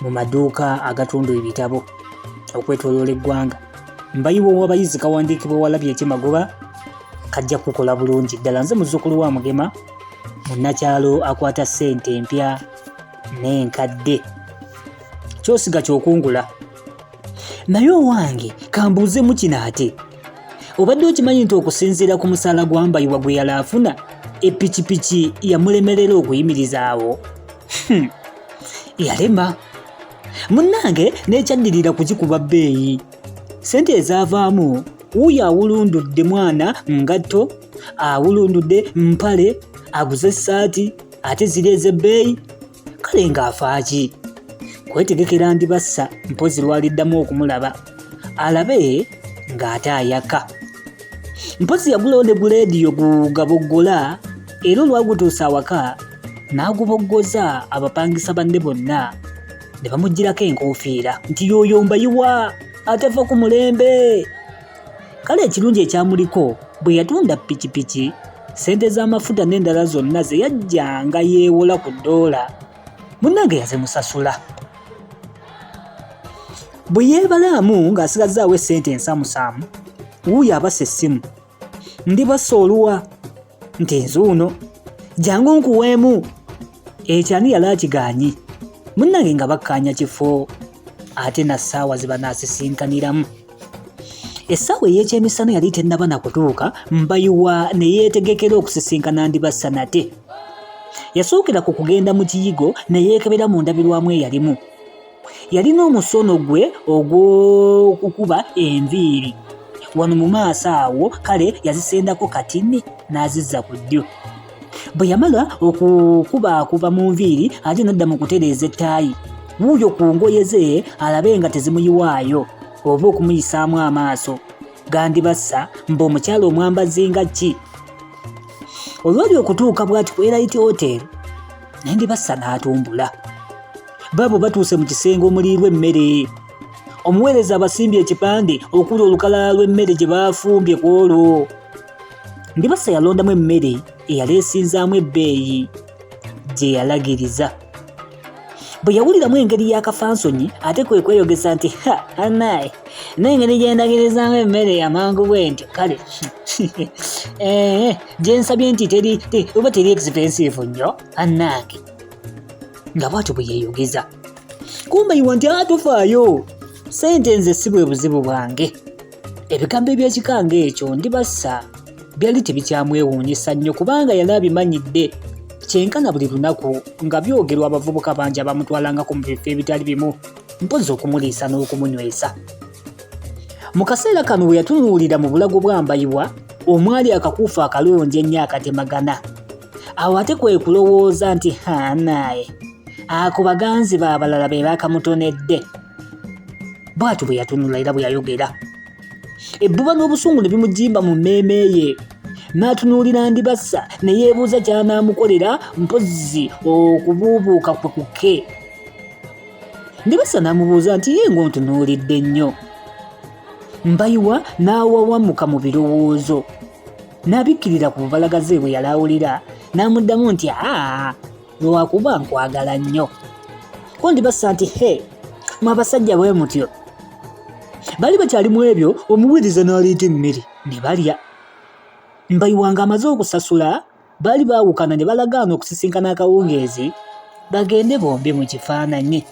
mu maduuka agatunda ebitabo okwetoloola eggwanga mbayiwa owabayizi kawandiikibwa walabye ekyemagoba kajja kukola bulungi ddala nze muzzukulu wa mugema munnakyalo akwata ssente empya n'enkadde kyosiga kyokungula naye owange kambuuzemu kino ate obadde okimanyi nti okusinziira ku musaala gwambayiwa gwe yali afuna epikipiki yamulemerera okuyimirizaawo hmm. yalema munnange nekyaddirira kukikuba bbeeyi sente ezaavaamu wuuyo awulundudde mwana ngatto awulundudde mpale aguze essaati ate ziri ez'ebbeeyi kale ng'afaaki kwetegekera ndibassa mpozi lwaliddamu okumulaba alabe ng'ate ayaka mpozi yagulawo ne guleediyo gugaboggola era olwagutuusa awaka n'aguboggoza abapangisa banne bonna ne bamuggyirako enkuufiira nti yooyo mbayiwa atava ku mulembe Kale ekirungi ekyamuliko bwe yatunda pikipiki, ssente z'amafuta n'endala zonna ze yajjanga yeewola ku ddoola munnange yazimusasula. Bwe yeebalaamu ng'asigazzaawo essente ensamusaamu, wuuyo abasa essimu. Ndibassa oluwa? nti nzuuno jangu nkuweemu ekyani yali akigaanyi munnange nga bakkaanya kifo ate na ssaawa ze banaasisinkaniramu essaawa ey'ekyemisana yali tennaba na kutuuka mbayiwa ne yeetegekera okusisinkana ndibassa nate yasookera ku kugenda mu kiyigo ne yeekebera mu ndabirwamu eyalimu yalina omusono gwe ogw'okukuba enviiri wano mu maaso awo kale yazisendako katini n'azizza ku ddyo bwe yamala okukubaakuba mu nviiri ate nadda mu kutereeza ettaayi wuuyo ku ngoye ze alabe nga tezimuyiwaayo oba okumuyisaamu amaaso gandibassa mbu omukyala omwambazi nga ki olwali okutuuka bw'ati ku erit hotel nendibassa n'atumbula Baabo batuuse mu kisenge omuliirwa emmere. Omuweereza abasimbye ekipande okuli olukalala lw'emmere gye baafumbye ku olwo. Ndibassa yalondamu emmere eyali esinzaamu ebbeeyi gye yalagiriza. Bwe yawuliramu engeri y'akafansonyi ate kwe kweyogeza nti ha anaye n'engeri gye ndagirizaamu emmere amangu bwe ntyo kale eh, gye nsabye nti teri oba teri expensive nnyo anange nga bwatyo bwe yeeyogeza kumbayiwa nti atufaayo sente nze si bwe buzibu bwange ebigambo eby'ekika ng'ekyo ndibassa byali tebikyamwewuunyisa nnyo kubanga yali abimanyidde kyenkana buli lunaku nga byogerwa abavubuka bangi abamutwalangako mu bifo ebitali bimu mpozi okumuliisa n'okumunywesa mu kaseera kano bwe yatunuulira mu bulago bwambayibwa omwali akakuufu akalungi ennyo akatemagana awo ate kwe kulowooza nti hanaaye ako baganzi baabalala be baakamutonedde bw'atyo bwe yatunula era bwe yayogera ebbuba n'obusungu ne bimujimba mu mmeeme ye n'atunuulira ndibassa ne yeebuuza ky'anaamukolera mpozzi okubuubuuka kwe kuke ndibassa n'amubuuza nti ye ng'ontunuulidde nnyo mbayiwa n'awawamuka mu birowoozo n'abikkirira ku bubalagaze bwe yali awulira n'amuddamu nti aa lwakuba nkwagala nnyo ko ndibassa nti he mwe abasajja bwe mutyo bali bakyali mu ebyo omuweereza n'aleeta emmere ne balya mbayiwanga amaze okusasula baali baawukana ne balagaana okusisinkana akawungeezi bagende bombi mu kifaananyi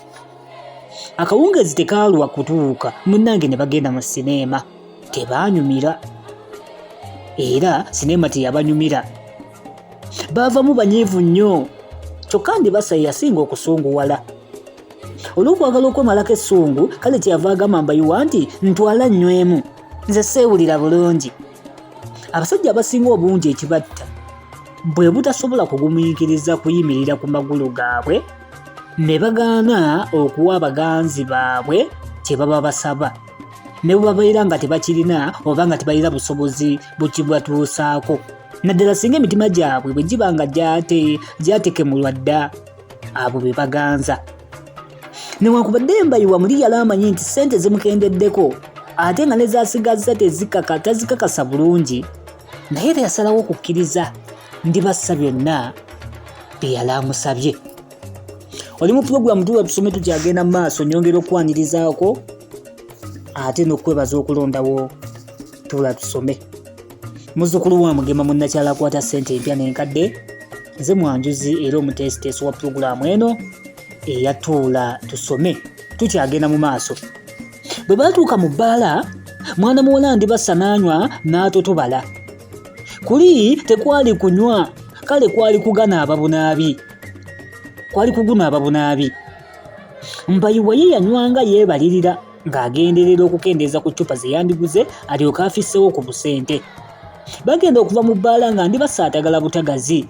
akawungeezi tekaalwa kutuuka munnange ne bagenda mu sineema tebaanyumira era sineema teyabanyumira baavamu banyiivu nnyo kyokka ndibasa yasinga okusunguwala olw'okwagala okwemalako essungu kale kyeyava agamba mbayiwa nti ntwala nnywemu nze seewulira bulungi abasajja abasinga obungi ekibatta bwe butasobola kugumiikiriza kuyimirira ku magulu gaabwe ne bagaana okuwa baganzi baabwe kye baba basaba ne bwe babeera nga tebakirina oba nga tebalina busobozi bukibatuusaako naddala singa emitima gyabwe bwe giba nga gyatekemulwa dda abo be baganza newankubadde embayiwa muli yali amanyi nti ssente zimukendeddeko ate nga nezasigazza tezikaka tazikakasa bulungi naye era yasalawo okukkiriza ndibassa byonna bye yali amusabye oli mu pulogulaamu tuba tusome tukyagenda mu maaso nyongera okukwanirizaako ate n'okukwebaza okulondawo tula tusome muzukulu wa mugema munnakyala akwata ssente empya n'enkadde nze mwanjuzi era omuteesiteesi wa pulogulaamu eno eyatuula tusome tukyagenda mu maaso bwe baatuuka mu bbaala mwana muwala ndibassa n'anywa n'atotobala kuli tekwali kunywa kale kwali kugana ababunaabi kwali kugunaaba bunaabi mbayiwa ye yanywanga yeebalirira ng'agenderera okukendeeza ku ccupa ze yandiguze alyoke afissewo ku busente bagenda okuva mu bbaala nga ndi basaatagala butagazi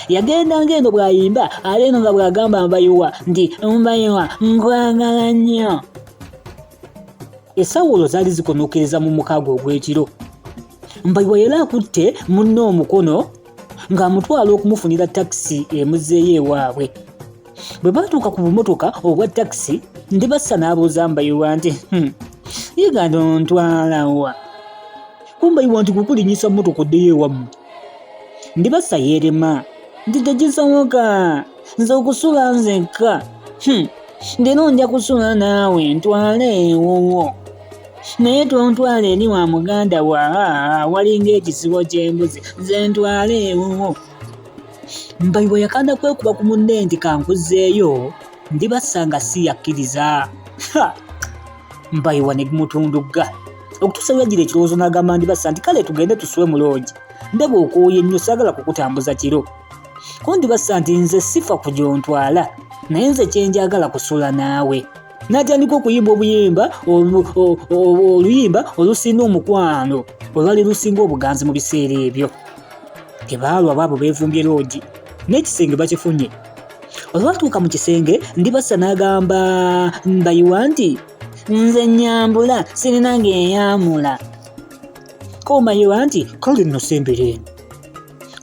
yagenda ng'eno bw'ayimba ate eno nga bw'agamba mbayiwa nti mbayiwa nkwagala nnyo esawulo zaali zikonokereza mu mukago ogw'ekiro mbayiwa yali akutte munne omukono ng'amutwala okumufunira takisi emuzeeyo ewaabwe bwe baatuuka ku bumotoka obwa takisi ndibassa n'abuuza mbayiwa nti hmm, yiganda ontwalawa kumbayiwa nti kukulinyisa motoka oddeyo ewamu ndibassa yeerema nti tegisoboka nze okusula nzekka hmm. ndino nja kusula naawe ntwale ewuwo naye tontwala eri wa muganda wa walinga ekisibo ky'embuzi nze ntwale ewuwo mbayi bwe yakanda kwekuba ku munne nti kankuzeeyo ndibasanga si yakkiriza mbayiwa ne gumutundugga okutuusa yagira ekirowoozo n'agamba ndibasa nti kale tugende tusiwe muloogi ndaba okwoyo ennyo saagala kukutambuza kiro kundibassa nti nze sifa ku gyontwala naye nze kyenjagala kusula naawe n'atandika okuyimba obuyimba oluyimba olusinda omukwano olwali lusinga obuganzi mu biseera ebyo tebaalwa baabo beevumbye loogi n'ekisenge bakifunye olwatuuka mu kisenge ndibasa n'agamba mbayiwa nti nze nyambula sirina ng'eyamula komayiwa nti kale nno sembere eno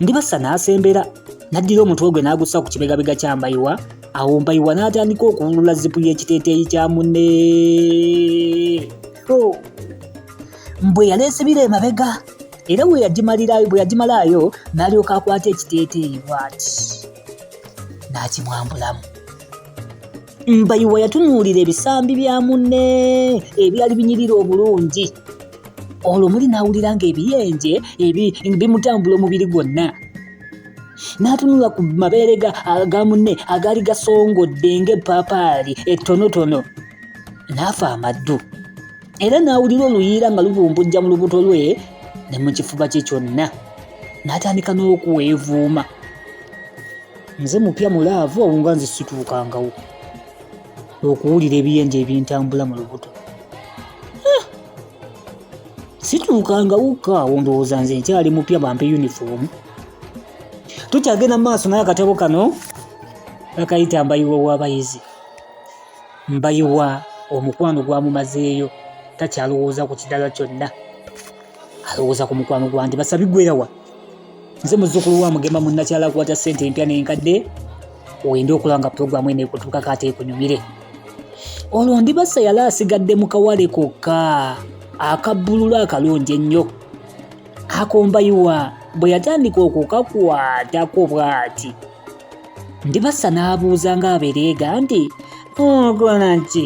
Ndibassa n'asembera n'addira omutwe gwe n'agussa ku kibegabega kya Mbayiwa awo Mbayiwa n'atandika okuwulula zipu y'ekiteeteeyi kya munne oh! mbwe yaleesibira emabega era bwe yagimalirayo bwe yagimalaayo n'alyoka akwata ekiteeteeyi bwati n'akimwambulamu Mbayiwa yatunuulira ebisambi bya munne ebyali binyirira obulungi olwo muli n'awulira ng'ebiyenje bimutambula omubiri gwonna n'atunula ku mabeere ga munne agaali gasongodde ng'eppaapaali ettonotono n'afa amaddu era n'awulira oluyiira nga lubumbujja mu lubuto lwe ne mu kifuba kye kyonna n'atandika n'okuweevuuma nze mupya mu laavu awo nga nze situukangawo okuwulira ebiyenje ebintambula mu lubuto eh! situukangawokka awo ndowooza nze nkyali mupya bampe yunifoomu tukyagenda mu maaso naye akatabo kano bakayita mbayiwa w'abayizi mbayiwa omukwano gwamumazeeyo takyalowooza ku kidala kyonna alowooza ku mukwano gwange basabi gwerawa nze muzukulu wa mugema munnakyala akwata ssente empya n'enkadde wende okulaba nga pulogulaamu eno ekutuukako ate ekunyumire olwo ndibasa yali asigadde mu kawale kokka akabbululu akalungi ennyo akombayiwa bwe yatandika okukakwatako bw'ati ndibasa n'abuuza ng'abereega nti okola ki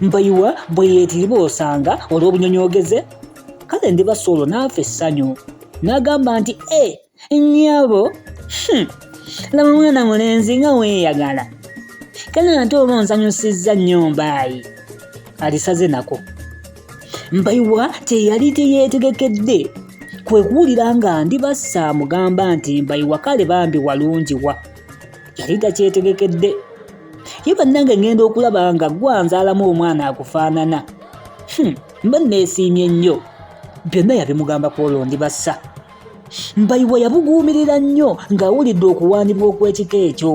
mbayiwa bwe yeetiriba osanga olw'obunyonyoogeze kale ndiba solo n'afa essanyu n'agamba nti e nnyabo hmm, laba mwana mulenzi nga weeyagala kale ate oba onsanyusizza nnyo mbaayi alisaze nako mbayiwa teyali teyeetegekedde kwe kuwulira nga ndibassa amugamba nti mbayiwa kale bambi walungi wa yali takyetegekedde ye bannange ngenda okulaba nga gwanzaalamu omwana akufaanana hmm, mba nneesiimye nnyo byonna yabimugamba ku olwo ndi bassa mbayiwa yabuguumirira nnyo ng'awulidde okuwaanibwa okw'ekika ekyo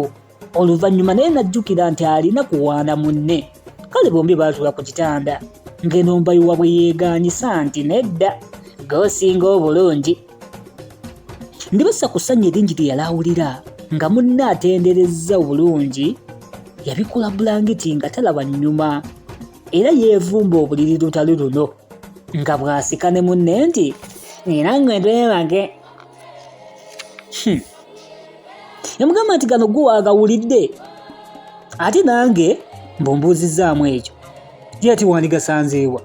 oluvannyuma naye n'ajjukira nti alina kuwaana munne kale bombi baatula ku kitanda ng'eno mbayiwa bwe yeegaanyisa nti nedda goosinga obulungi Ndibasa ku ssanyu eringi lye yali awulira nga munne atenderezza obulungi yabikula bulangiti nga talaba nnyuma era yeevumba obuliri lutalo luno nga bw'asika ne munne nti era ngwe twebage hmm. yamugamba nti gano gwe waagawulidde ate nange mbumbuuzizzaamu ekyo Jeti wandigasanzeewa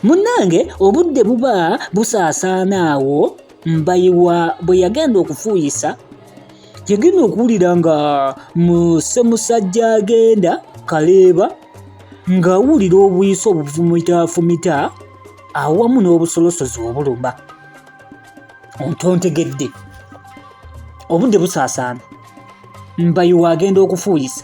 munnange obudde buba busaasaana awo mbayiwa bwe yagenda okufuuyisa yagenda okuwulira nga musemusajja agenda kaleeba ng'awulira obuyisa obufumitafumita awamu n'obusolosozi obuluma ontontegedde obudde busaasaana mbayiwa agenda okufuuyisa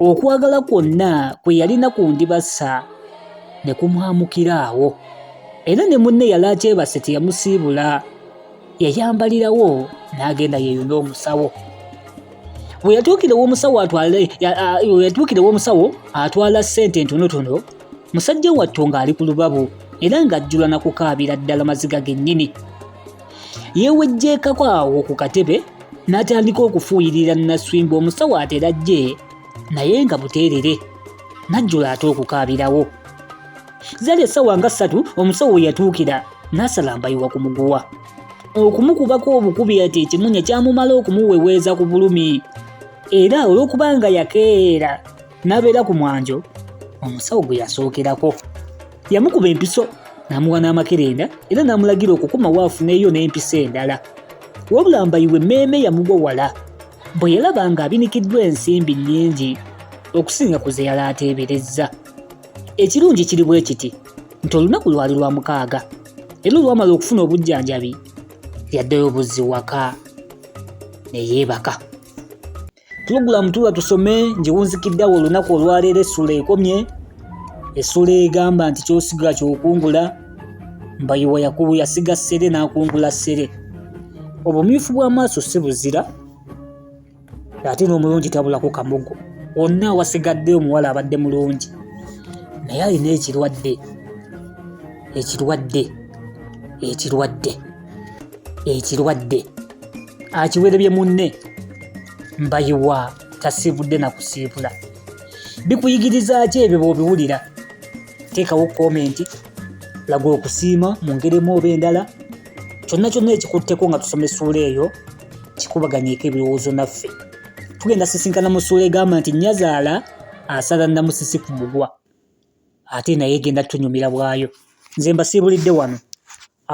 okwagala kwonna kwe yalina ku ndibassa ne kumwamukira awo era ne munne yali akyebase teyamusiibula yayambalirawo n'agenda yeeyuna omusawo we yatuukirewo omusawo atwale we yatuukirewo omusawo atwala ssente entonotono musajja wattu ng'ali ku lubabu era ng'ajjula na kukaabira ddala maziga gennyini Yeewejjeekako awo ku katebe n'atandika okufuuyirira Naswimba omusawo atera ajje naye nga buteerere n'ajjula ate okukaabirawo. Zali essaawa nga ssatu omusawo we yatuukira n'asalambayiwa ku muguwa. Okumukubako obukubi ati ekimunya kyamumala okumuweweeza ku bulumi era olw'okuba nga yakeera n'abeera ku mwanjo omusawo gwe yasookerako yamukuba empiso n'amuwa n'amakerenda era n'amulagira okukuma waafuneeyo n'empiso endala wabula mbayiwe mmeeme yamugwa wala bwe yalaba ng'abinikiddwa ensimbi nnyingi okusinga ku ze yali ateeberezza ekirungi kiri bwe kiti nti olunaku lwali lwa mukaaga era olwamala okufuna obujjanjabi yaddayo buzzi waka ne yeebaka Pulogulaamu tuula tusome ngiwunzikiddawo olunaku olwaleero essula ekomye essula egamba nti kyosigala kyokungula mbayiwa yakubu yasiga ssere n'akungula ssere obumyufu bw'amaaso si buzira ate n'omulungi tabulako kamugo wonna awasigadde omuwala abadde mulungi naye alina ekirwadde ekirwadde ekirwadde ekirwadde akiwerebye munne mbayiwa tasiibudde na kusiibula bikuyigiriza ki ebyo bwobiwulira teekawo komenti laga okusiima mu ngeri emu oba endala kyonna kyonna ekikutteko nga tusoma essuula eyo kikubaganyeeko ebirowoozo naffe tugenda sisinkana mu ssuula egamba nti nyazaala asala namusisi ku mugwa ate naye egenda tunyumira bwayo nze mbasiibulidde wano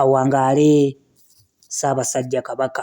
Awangaale Ssaabasajja Kabaka.